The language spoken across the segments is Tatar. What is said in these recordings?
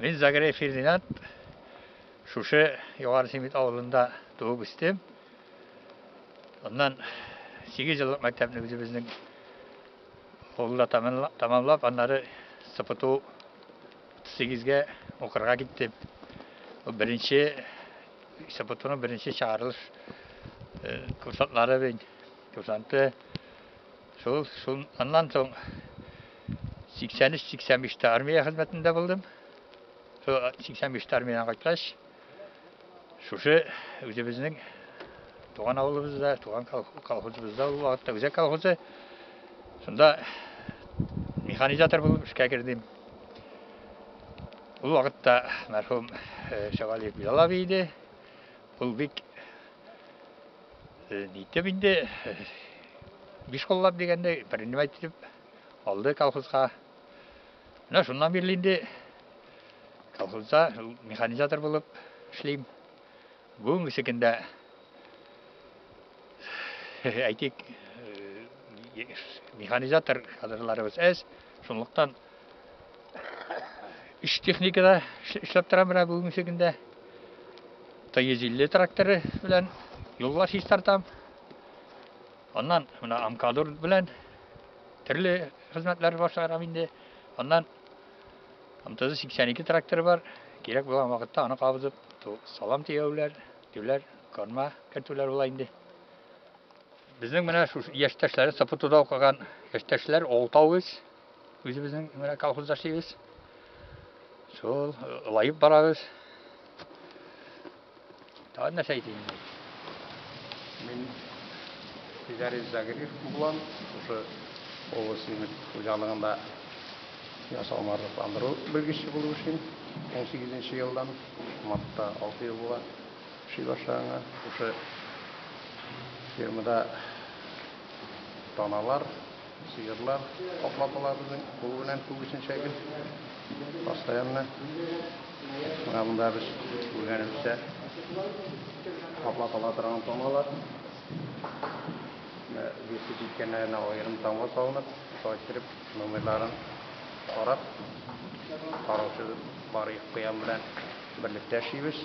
Мин Загрей Фердинанд, шушы Югары Семит авылында туып үстем. Аннан 8 еллык мәктәпне үзебезнең авылда тамамлап, аннары СПТУ 38-гә укырга киттем. Беренче СПТУның беренче чыгарылыш курсантлары бен, курсанты Шул, шул, аннан соң 83-85-тә армия хезмәтендә булдым. Шул 85-тә армиядән кайткач, шушы үзебезнең туган авылыбызда, туган колхозыбызда ул вакытта үзәк колхозы. Шунда механизатор булып эшкә кердем. Ул вакытта мәрхүм Шавалиев Билал абый иде. Ул бик Диттеп инде биш коллап дигәндә принимать итеп алды колхозга. Менә шуннан бирле инде колхозда механизатор булып эшлим. Бүгенгесе көндә әйтик механизатор кадрларыбыз әз, шунлыктан Үш техникада эшләп торам менә бүгенге көндә. Т-150 тракторы белән юллар чистартам. Аннан менә Амкадур белән төрле хезмәтләр башларам инде. Аннан МТЗ 82 тракторы бар. Кирәк булган вакытта аны кабызып, салам тияүләр, тюләр, корма кертүләр була инде. Безнең менә шушы яшьтәшләре Сапутуда укыган яшьтәшләр 6 авыз Үзебезнең менә колхозда эшлибез. Шул лаеп барабыз. Тагын нәрсә әйтим? Мин Фидарис Загрир булам. Шушы областьның хуҗалыгында ясау марлыкландыру белгече булып эшлим. 18 елдан мартта 6 ел була эшли башлаганга. Шушы фермада таналар Сыерлар капладылар безнең кул белән күбесенчә гел. Постоянно. Менә монда без күргәнебезчә капладыла торган тамгалар. Менә весе җиткәннәренә аерым тамга салынып, шулай иттереп номерларын карап, караучы бар куян белән берлектә эшлибез.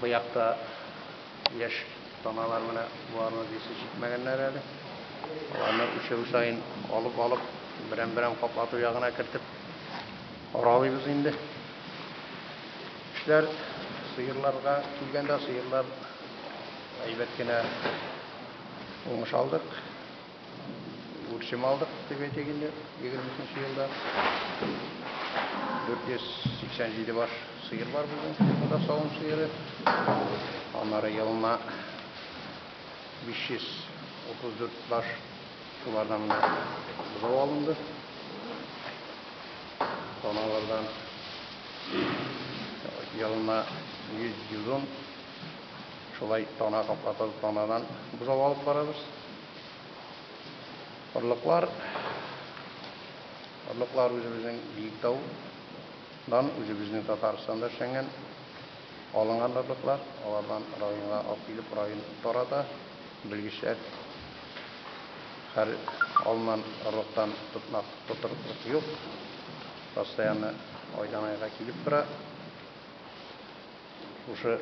Бу якта яшь таналар менә боларны дисез җитмәгәннәр әле. Аларны үчәү саен алып алып, берәм-берәм каплату ягына кертеп аралыйбыз инде. Эшләр сыерларга килгәндә, сыерлар әйбәт кенә уңыш алдык. Үрчем алдык, дип әйтик инде, 23 елда. 487 баш сыер бар бүген, фермада савым сыеры. Аннары елына 534 баш шулардан бозау алынды. Таналардан елына 100-110 шулай тана каплатып, танадан бозау алып барабыз. Орлыклар, орлыклар үзебезнең Биектау дан үзебезнең Татарстанда эшләнгән алынган орлыклар, алардан районга алып килеп район тарата, белгечләр һәр алынган орлыктан тотнак тотырлык юк, постоянно айдан айга килеп тора. Шушы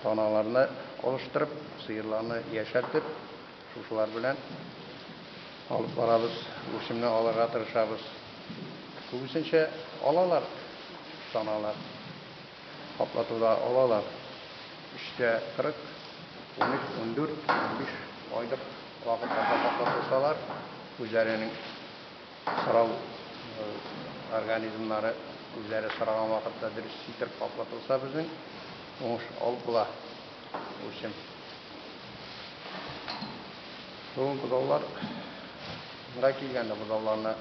таналарны алыштырып, сыерларны яшәртеп, шушылар белән алып барабыз, үрчемне алырга тырышабыз. Күбесенчә алалар, таналар. Каплатуда алалар. Өчтә кырык, унөч, ундүрт, унбиш айлык вакытларда каплатылсалар, үзләренең. Сорау организмнары үзләре сораган вакытта дөрес ситыр каплатылса безнең уңыш алып була. Учим. Бүген бозаулар да килгәндә бозауларны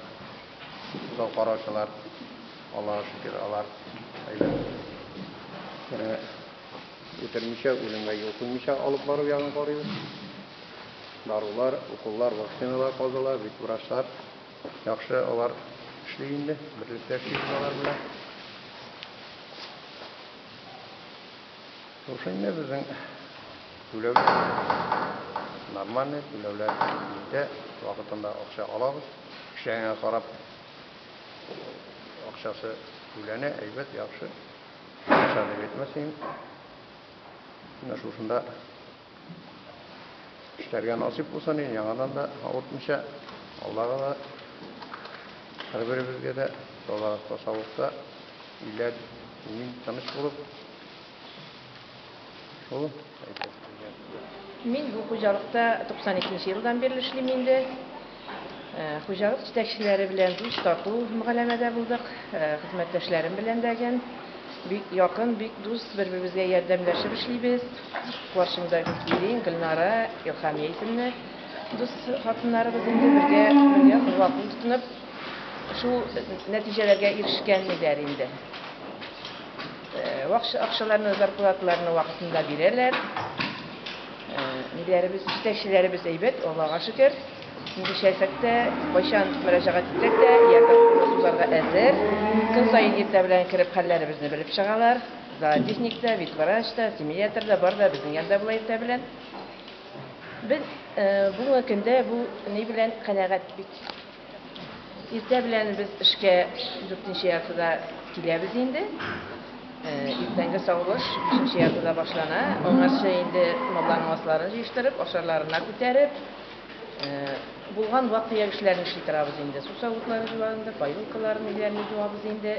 бозау караучылар Аллага шөкер алар әйбәт. Үтермичә, үлемгә юл куймича алып бару ягын карыйбыз. дарулар, уколлар, вакциналар калдылар, бит врачлар яхшы алар эшли инде, берлектә эшлибез алар белән. Шушы инде безнең түләүләр нормальный, түләүләр җитә, вакытында акча алабыз. Эшләгәнгә карап акчасы түләнә, әйбәт, яхшы. Акча дип әйтмәс идем. Менә шушында Эшләргә насыйп булсын иде, яңадан да авыртмыйча, Аллага да, һәрберебезгә дә тазалыкта, саулыкта, илә имин, тыныч булып, шул әйтәсе сүзләребез дә. Мин бу хуҗалыкта 92 нче елдан бирле эшлим инде. Хуҗалык җитәкчеләре белән дус, тату мөгаләмәдә булдык. Хезмәттәшләрем белән дә гел бик якын, бик дус, бер-беребезгә ярдәмләшеп эшлибез. Каршымда Гөлкилин, Гөлнара, Илһамия исемле дус хатыннарыбыз инде бергә, бергә кулга-кул тотынып, шул нәтиҗәләргә ирешкәннедер инде. Акчаларны, зарплаталарны вакытында бирәләр. Ниләребез, җитәкчеләребез әйбәт, Аллага шөкер. Нинди чәлсәк тә, кайчан мөрәҗәгать итсәк тә, ярдәм кулы сузарга әзер. Көн саен иртә белән кереп хәлләребезне белеп чыгалар. Зоотехник та, ветврач та, семиатр да бар да безнең янда була иртә белән. Без бүгенге көндә бу ни белән канәгать бит. Иртә белән без эшкә дүртенче яртыда киләбез инде. Э, иртәнге савылыш бишенче яртыда башлана. Аңарчы инде малларның асларын җыештырып, ашарларына күтәреп, э, булган вак-төяк эшләрне эшли торабыз инде. Су савытлары җуабыз инде, поилкаларны, өйләрне җуабыз инде.